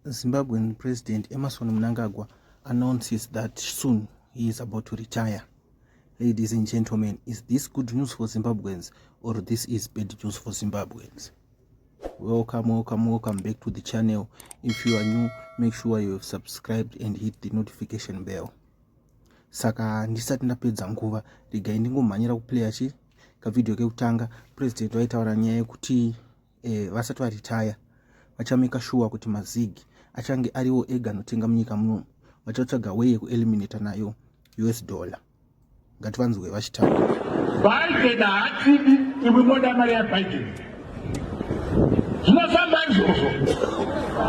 Zimbabwean President Emerson Mnangagwa announces that soon he is about to retire. Ladies and gentlemen, is this good news for Zimbabweans or this is bad news for Zimbabweans? Welcome, welcome, welcome back to the channel. If you are new, make sure you have subscribed and hit the notification bell. Saka ndisati ndapedza nguva, regai ndingomhanyira kuplayer chi kavideo kekutanga. President waitaura nyaya yekuti eh, vasati varitaya vachameka shuwa kuti mazig achange ariwo ega anotenga munyika munomu vachatsvaga weye kueliminata nayo us dollar ngativanzwe vachitaura biden haatidi imwe moda mari yabiden zvinofamba izvozvo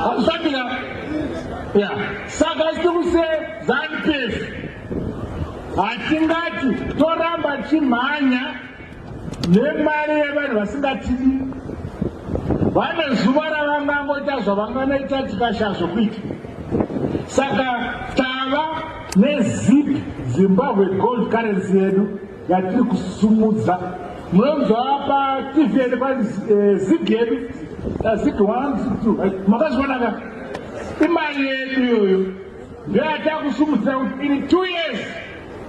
hakusabira ya saka isi kuse zanupes hatingati toramba chimhanya nemari yevanhu vasingatidi vane zuva ravangangoita zvavanganoita tikashaya zvokuita saka tava nezip zimbabwe gold currency yedu yatiri kusumudza munonzwa pa tv yedu pa eh, zip yedu zip one zip two makazvionaka imari yedu iyoyo Ndeatakusumudzira kuti in two years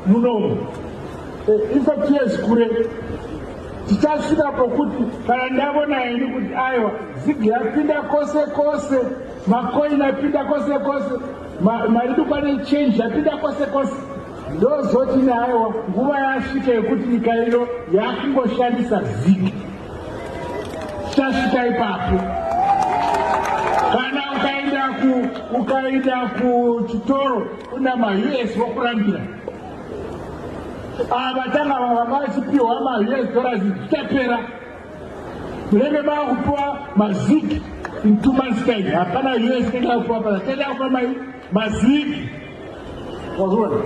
munomu eh, in fact years kure tichasvika pokuti kana ndavona ini kuti aiwa zigi yapinda kose kose makoini apinda kose kose maridukwane change yapinda kose kose ndozoti neaiwa nguva yasvika yekuti nyika ino yakungoshandisa ziki chasvika ipapo kana ukaenda ku ukaenda kuchitoro kuna maus vokurambira ava tanga vava vachipiwa maus dollars zvichapera munenge mava kupiwa maziki in two months time hapana us inenge yakupiwa paa tenda kupa mai mazigi wazviona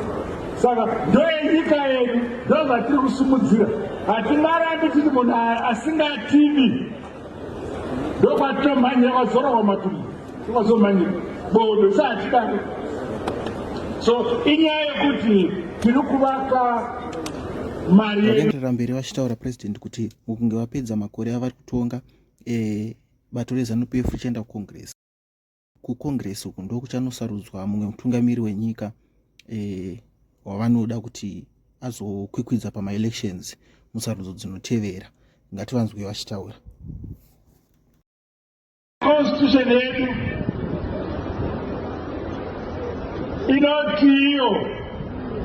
saka ndoenyika yedu ndozvatiri kusimudzira hatimarambi titi munhu asingatidi ndokwatinomhanyira kwazora kwamatumbu kwazomhanyira bodo sahatidaro so inyaya yekuti tiri kuvaka mari vakaenderera mberi vachitaura president kuti mukunge vapedza makore avari kutonga eh, bato rezanup f ichienda kucongress kucongress uku ndokuchanosarudzwa mumwe mutungamiri wenyika eh, wavanoda kuti azokwikwidza pamaelections musarudzo dzinotevera ngativanzwe vachitaura constitution yedu inoti iyo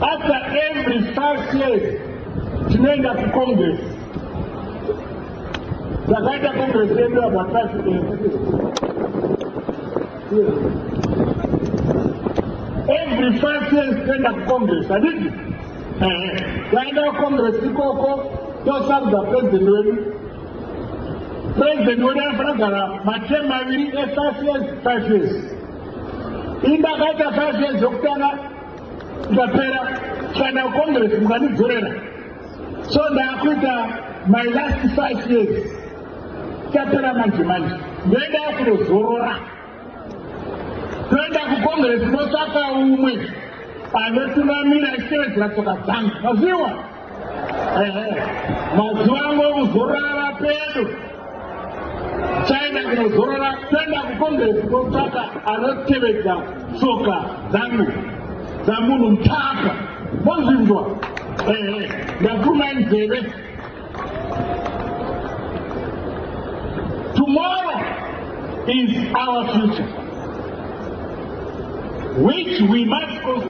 after every five years tinoenda kucongress zvakaita kongiresi yedu yabhatasi every five years toenda kukongiresi adidi taenda kukongiresi ikoko tosarudza purezidenti wedu purezidenti wedu anofana kugara matem maviri efive years five years inda akaita five years yokutanga ikapera kana kongiresi mukanidzorera so ndakuita my last five years tapera manje manje ndoenda kunozorora toenda kukongresi totsvaka umwe anotungamira ichitevedzera tsoka dzangu maziwa mazuva angu okuzorora ava pedo China inozorora kuenda kukongresi kotsvaka anotevedza tsoka dzangu dzamunhu mutaka mozvinzwa ehe ndapfuma nzeve tomorrow is our future which we must